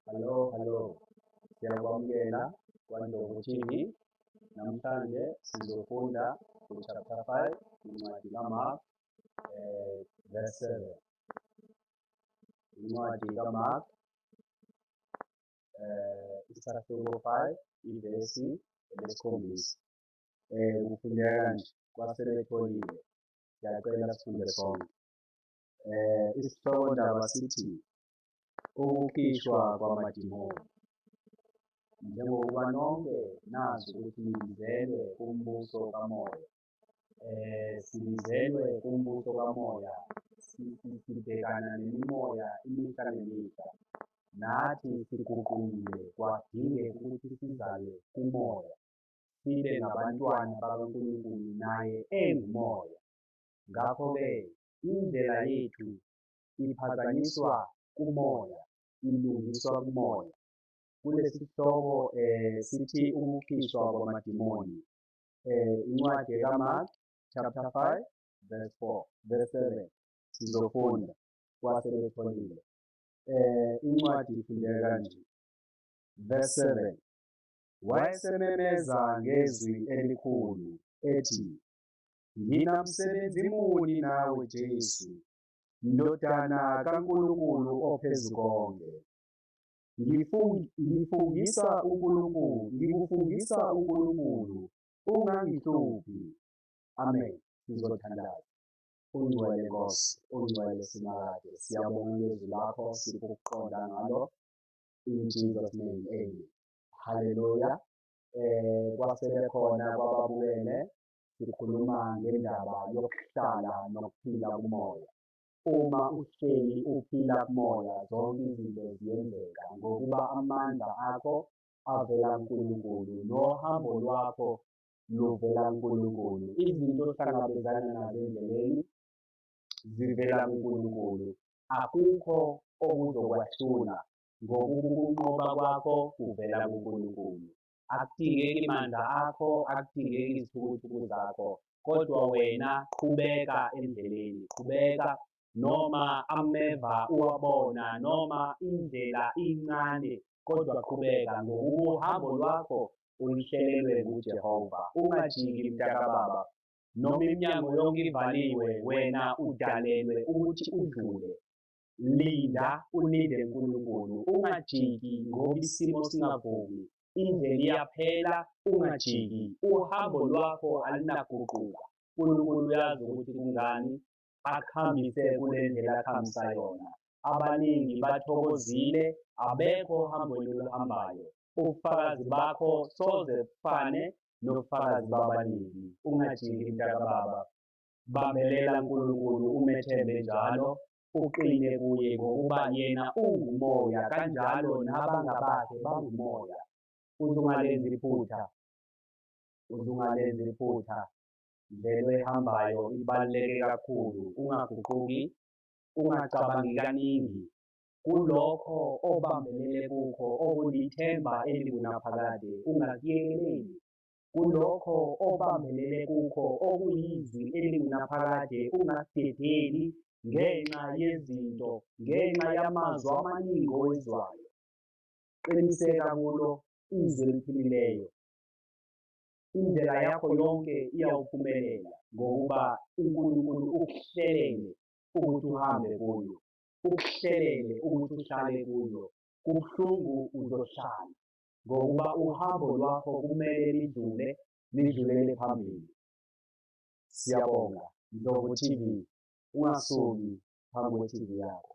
Hello, hello. Siyakwamukela kwaNdlovu TV. Namhlanje sizofunda ku-chapter 5 incwadi kaMark eh, verse 7. Incwadi kaMark eh, isahluko 5 ivesi elesikhombisa. Eh, kufundeka nje kwasebetholile. Siyacela sifunde sonke. eh isihloko ndaba sithi ukukhishwa kwamadimoni njengokuba nonke nazi ukuthi nibizelwe kumbuso kamoya eh sibizelwe kumbuso kamoya sibhekana nemimoya imihla nemihla nathi siguqukile kwadingeka ukuthi sizalwe kumoya sibe ngabantwana bakaNkulunkulu naye engumoya ngakho-ke indlela yethu iphazanyiswa kumoya, ilungiswa kumoya. Kulesihloko eh sithi ukukhishwa kwamadimoni. Eh incwadi kaMark chapter 5 verse 4 verse 7 sizofunda kwasebetholile. Eh incwadi ifundeka kanje. Verse 7 wayesememeza ngezwi elikhulu ethi Nginamsebenzi muni nawe Jesu, Ndodana kaNkulunkulu ophezu konke? Ngifung, ngifungisa uNkulunkulu, ngikufungisa uNkulunkulu, ungangihluphi. Amen. Sizothandaza. Ungcwele Nkosi, ungcwele simakade. Siyabonga ngezwi lakho, sipho ukuqonda ngalo. In Jesus name, amen. Hallelujah. Eh kwasebekhona kwababukele sikhuluma ngendaba yokuhlala nokuphila kumoya. Uma uhleli uphila kumoya zonke izinto ziyenzeka ngokuba amandla akho avela kuNkulunkulu nohambo lwakho luvela kuNkulunkulu. Izinto ohlangabezana nazo endleleni zivela kuNkulunkulu. Akukho okuzokwahlula ngokuba ukunqoba kwakho kuvela kuNkulunkulu. akudingeki mandla akho akudingeki izithukuthuku zakho kodwa wena qhubeka endleleni qhubeka noma ameva uwabona noma indlela incane kodwa qhubeka ngokuhambo lwakho ulihlelelwe nguJehova ungajiki mntakababa noma iminyango yonke ivaliwe wena udalelwe ukuthi udlule Linda ulinde uNkulunkulu ungajiki ngoba isimo singavumi. Indlela iyaphela ungajiki uhambo lwakho alunaguquka. uNkulunkulu uyazi ukuthi kungani akuhambise kule ndlela akuhambisa yona. Abaningi bathokozile abekho ohambweni oluhambayo. Ubufakazi bakho soze bufane nobufakazi babaningi. Ungajiki mntakababa. Bambelela Nkulunkulu umethembe njalo uqine kuye ngokuba yena ungumoya kanjalo nabangabakhe bangumoya. Uzungalenzi iphutha. Uzungalenzi iphutha. Ndlela ehambayo ibaluleke kakhulu. Ungaguquki. Ungacabangi kaningi. Kulokho obambelele kukho okulithemba elingunaphakade ungakuyekeleli. kulokho obambelele kukho okuyizwi elingunaphakade ungasidedeli ngenxa yezinto ngenxa yamazwi amaningi owezwayo qiniseka kulo izwi eliphilileyo indlela yakho yonke iyawuphumelela ngokuba uNkulunkulu ukuhlelele ukuthi uhambe kuyo ukuhlelele ukuthi uhlale kuyo kubuhlungu uzohlala ngokuba uhambo lwakho kumele lidlule lidlulele phambili. Siyabonga Ndlovu TV, ungasuki phambi kwe-TV yakho.